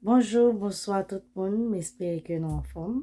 Bonjou bonswa tout moun m espere ke nou anfòm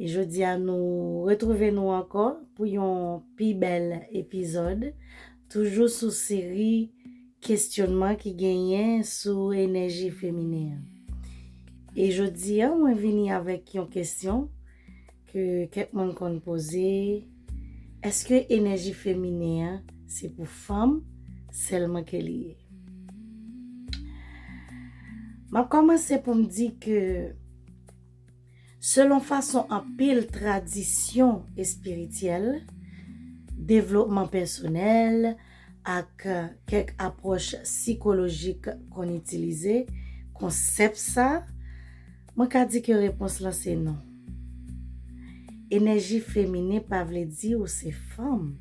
e jodi a nou retrouve nou ankò pou yon pi bèl epizòd toujou sou seri kestyonman ki genyen sou enèji feminen an e jodi a mwen vini avèk yon kestyon Ke kèk moun konn poze, Eske enèji feminen an se pou fanm sèlman ke li ye? M ap kòmanse pou m di ke selon fason anpil tradisyon espirityèl, devlopman pèsonèl, Ak kèk apwòch sikolojik konn itilize konsèp sa, mwen ka di ke repons lan se non. Enèji feminen pa vle di ou se fanm.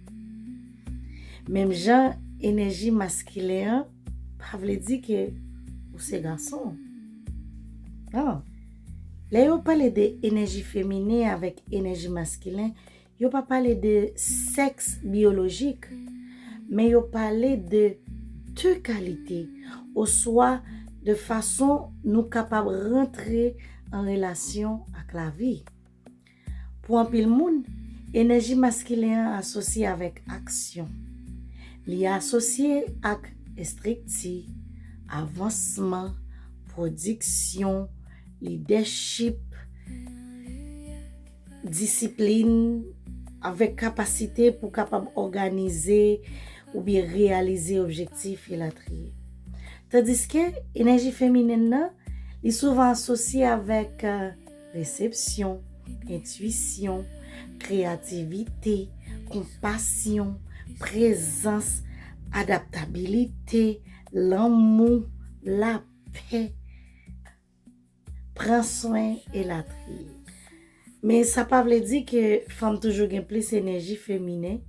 Menm jan enèji maskilen an pa vle di ke ou se gason. Non. Lè yo pale de enèji feminen avèk enèji maskilen, Yo pa pale de sèks biyolojik, men yo pale de de kalite oswa de fason nou kapab rantre an relasyon ak lavi. Pou anpil moun, enèji maskilen an asosye avèk aksyon. Li asosye ak estrikti, avansman, pwodiksyon, lidèchip. Disiplin, Avèk kapasite pou kapab òganize oubyen reyalize objektif, elatriye. Tandiske, enèji feminen nan, li souvan asosye avèk resepsyon, entwisyon, kreyativite, konpasyon, prezans, adaptabilite, lanmou, lapè. pran swen elatriye. Men sa pa vle di ke fanm toujou gen plis enèji feminen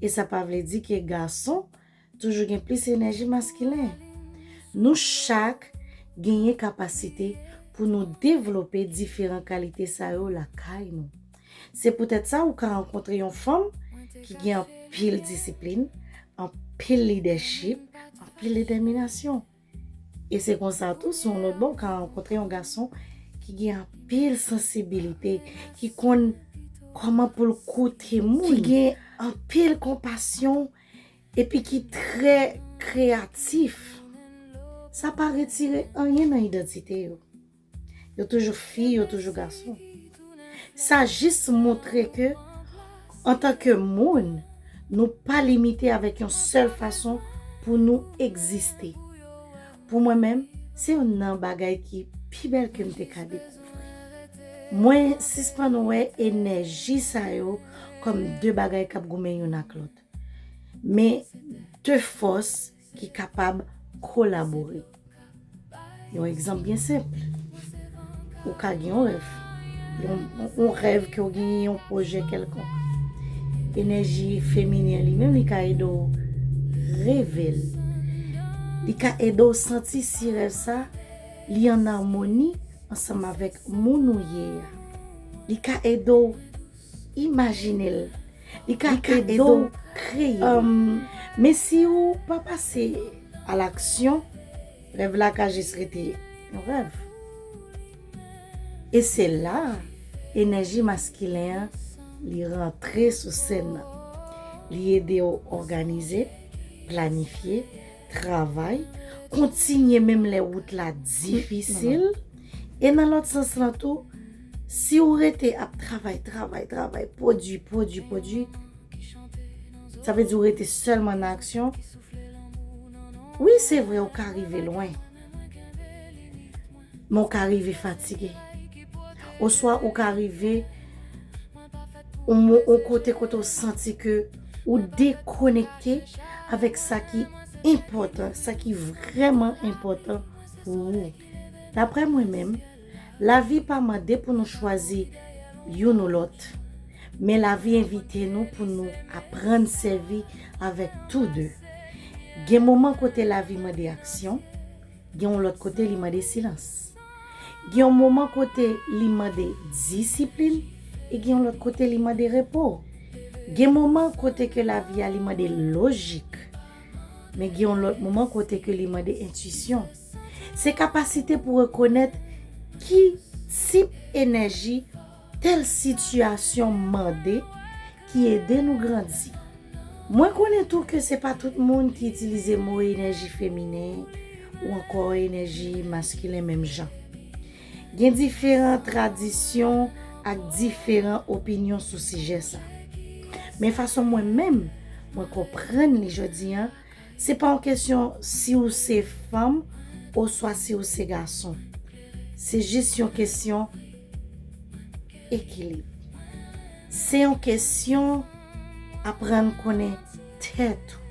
e sa pa vle di ke gason toujou gen plis enèji maskilen. Nou chak genyen kapasite pou nou devlope diferan kalite sa yo lakay nou. Se poutèt sa ou ka rankontre yon fanm ki gen anpil disiplin, anpil lidèchip, anpil detèminasyon. E se konsa tou sou yon lòt bò ou ka rankontre yon gason ki gen anpil sansibilite, ki konn kòman pou l koute moun, ki gen anpil konpasyon epi ki trè kreyatif. Sa pa retire anyen nan idantite yo. Yo toujou fi, yo toujou gason. Sa jis montre ke antanke moun, nou pa limite avèk yon sèl fason pou nou egziste. Pou mwen menm, se youn nan bagay ki pi bèl ke m te ka dekouvri. Mwen sispann wè enèji sa yo kòm de bagay k ap goumen youn ak lòt, men de fòs ki kapab kolabore. Yon egzanp byen senp, ou ka gen yon rèv, yon rèv ke ou gen yon pwojè kèlkonk. Enèji feminen li menm li ka ede ou reve l. Li ka ede ou santi si rèv sa li an amoni ansanm avèk moun ou ye a. Li ka ede ou imajine l Li ka ede w kreye. Men si ou pa pase a laksyon, rèv la ka jis rete yon rèv. E se la enèji maskilen an li rantre sou sèn nan. Li ede w òganize, planifye, travay, kontinye menm lè wout la difisil. E nan lòt sans lan tou. Si ou rete ap travay, travay, travay, pwodui, pwodui, pwodui, sa vle di ou rete sèlman nan aksyon, wi se vre ou ka rive lwen, men ou ka rive fatige. Oswa ou ka rive yon kote kote ou santi ke ou dekonekte avèk sa ki enpòtan, sa ki vrèman enpòtan pou ou. Daprè mwen menm. Lavi pa mande pou nou chwazi youn ou lòt, men lavi envite nou pou nou aprann sèvi avèk tou de. Gen moman kote lavi mande aksyon, gen yon lòt kote li mande silans. Gen yon moman kote li mande disiplin e gen yon lòt kote li mande repo. Gen moman kote ke lavi a li mande lojik, men gen yon lòt moman kote ke li mande entisyon. Se kapasite pou rekonèt ki tip enèji tèl sitiyasyon mande ki ede nou grandi. Mwen konnen tou ke se pa tout moun ki itilize mo enèji feminen ou ankò enèji maskilen menm jan. Gen diferan tradisyon ak diferan opinyon sou sijè sa. Men fason mwen menm, mwen konprann li jodi an, Se pa yon kesyon si ou se fanm oswa si ou se gason. Se jis yon kesyon ekilib. Se yon kesyon aprann konnen tèt ou.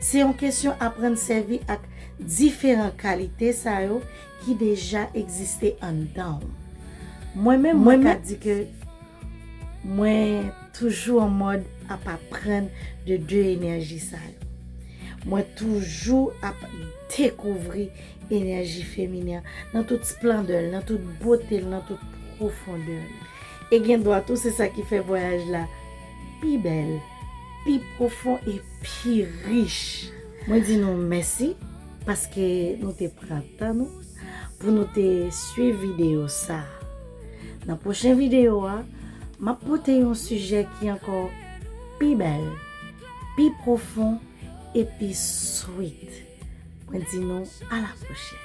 Se yon kesyon aprann sèvi ak diferan kalite sa yo ki deja egziste anndan ou. Mwen menm mwen ka di ke. Mwen toujou an mòd ap aprann de 2 enèji sa yo. Mwen toujou ap dekouvri enèji feminen an nan tout splandè l, nan tout bote l, nan tout pwofondè l. E gen dwa tou se sa ki fè vwayaj la pi bèl, pi pwofon e pi rich. Mwen di nou mèsi paske nou te pran tan nou. pou nou te swiv videyo sa. Nan pwochen videyo a, m ap pote yon sijè ki ankò pi bèl, pi pwofon e pi sweet. Mwen di nou a la pwochen.